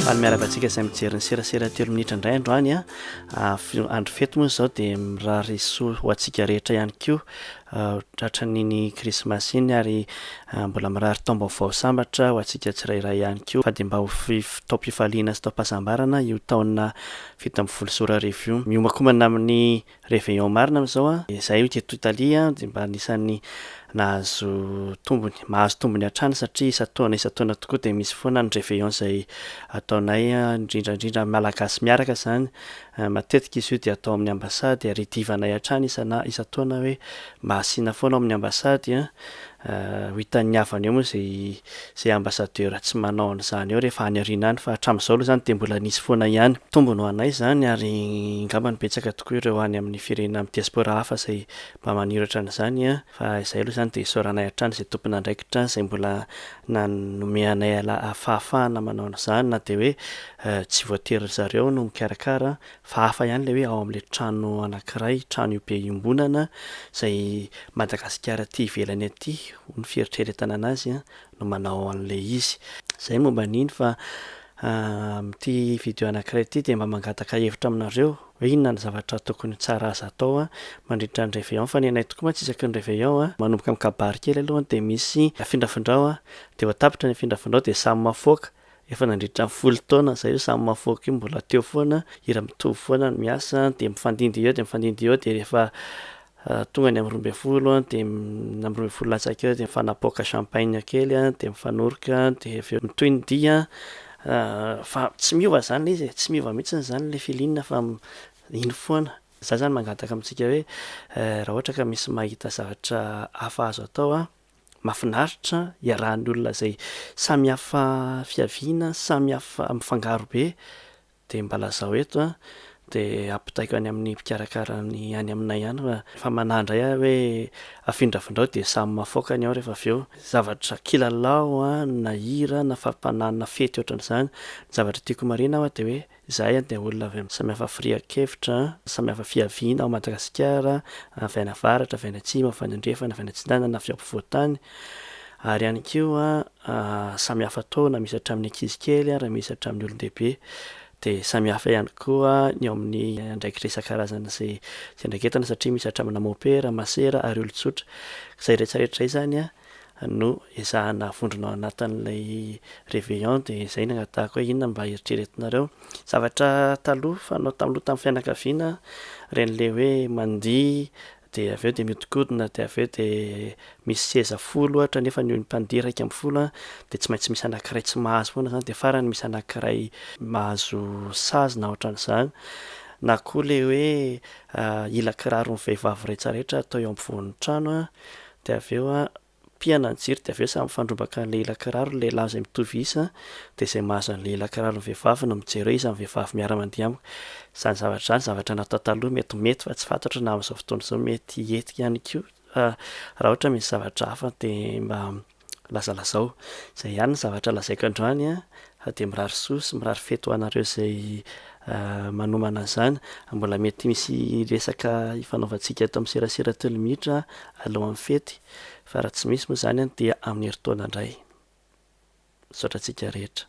Any miaraka antsika izay mijery ny serasera telo minitra indray androany a ah, andro fety moa izao dia mirary soa ho antsika rehetra ihany koa ah, tratran'iny krismasy iny ary ah, mbola mirary taom-baovao sambatra ho antsika tsirairay ihany koa fa dia mba ho taom-pifaliana sy taom-pahasambarana io taona fito ambin'ny folo sy roa arivo io miomakomana amin'ny Réveillons marina amin'izao an! Izahay io teto Italie an, dia mba anisan'ny nahazo tombony, mahazo tombony hatrany satria isan-taona isan-taona tokoa dia misy foana ny réveillon izay ataonay indrindra indrindra amin'ny Malagasy miaraka izany. Matetika izy io dia atao amin'ny ambasady ary idivanay hatrany isan-taona hoe mba asiana foana ao amin'ny ambasady an! Ho hitan'ny havany eo moa izay izay ambassadeur tsy manao an'izany eo rehefa any aoriana any fa hatramin'izao aloha izany dia mbola nisy foana ihany. Tombony ho anay izany ary ngamba no betsaka tokoa ireo any amin'ny firenena amin'ny diaspora hafa izay mba maniry ohatran'izany an! Fa izay aloha izany dia isaoranay hatrany izay tompon'andraikitra izay mbola nanome anay fahafahana manao an'izany na dia hoe tsy voatery ry zareo no mikarakara Fa hafa ihany ilay hoe ao amin'ilay trano anankiray, trano io be iombonana, izay Madagasikara aty ivelany aty, hoy ny fieritreretana an'azy, no manao an'ilay izy. Izay ny momba an'iny fa amin'ity video anankiray ity dia mba mangataka hevitra aminareo hoe inona ny zavatra tokony ho tsara azo atao mandritra ny réveillon fa ny anay tokoa mantsy isaky ny réveillon manomboka amin'ny kabary kely aloha dia misy afindrafindrao dia vao tapitra ny afindrafindrao dia samy mafoaka Efa nandritra ny folo taona zay io samy mahafaoka io mbola teo foana, hira mitovy foana ny miasa dia mifandimby eo dia mifandimby eo dia rehefa tonga ny amin'ny roa ambin'ny folo dia amin'ny roa ambin'ny folo latsaka eo dia mifanapaoka champagne kely an dia mifanoroka dia avy eo mitohy ny dihy an, fa tsy miova zany le izy e, tsy miova mihitsy zany le feeling fa iny foana, za zany mangataka amintsika hoe raha ohatra ka misy mahita zavatra hafa azo atao an, Mafinaritra iarahan'ny olona izay samy hafa fiaviana, samy hafa mifangaro be dia mba lazao eto an, dia ampitaiko any amin'ny mpikarakara ny any aminay any fa efa manahy indray aho hoe afindrafindrao dia samy mafaoka ny ao rehefa avy eo. Zavatra kilalao an, na hira, na fampanahy, na fety ohatran'izany, ny zavatra tiako marihina aho an dia hoe. Izahay an dia olona avy amin'ny samy hafa firian-kevitra, samy hafa fiaviana ao Madagasikara, avy any avaratra, avy any atsimo, avy any andrefana, avy any atsinanana, avy ampovoan-tany, ary ihany koa samy hafa taona, misy hatramin'ny ankizy kely ary misy hatramin'ny olon-dehibe, dia samy hafa ihany koa ny ao amin'ny andraikitra isan-karazany izay fiandraiketana satria misy hatramina mopera, masera ary olon-tsotra. Izay rehetra rehetra izay izany an no ezahana havondrona ao anatin'ilay réveillon dia izay no angatahiko hoe inona no mba eritreretinareo zavatra taloha fanao taloha tamin'ny fianakaviana ireny ilay hoe mandihy dia avy eo dia mihodinkodina dia avy eo dia misy seza folo ohatra nefa ny mpandihy iraika ambin'ny folo dia tsy maintsy misy anankiray tsy mahazo foana izany dia farany misy anankiray mahazo sazy na ohatran'izany na koa ilay hoe hila kiraron'ny vehivavy rehetrarehetra atao eo ampovoan'ny trano Dia avy eo an, pihana ny jiro dia avy eo samy mifandrombaka ny lehilahy kiraro ny lehilahy izay mitovy isa dia izay mahazo ny lehilahy kiraro ny vehivavy no mijery hoe iza ny vehivavy miara mandihy amiko. Izany zavatra izany zavatra natao taloha mety mety fa tsy fantatro na amin'izao fotoana izao mety hiety ihany koa fa raha ohatra misy zavatra hafa dia mba lazalazao. Izay ihany ny zavatra lazaiko androany an, Fa dia mirary soa sy mirary fety ho anareo izay manomana izany. Mbola mety misy resaka hifanaovantsika eto amin'ny serasera telo minitra alohan'ny fety, fa raha tsy misy moa izany dia amin'ny herintaona indray. Misaotra antsika rehetra.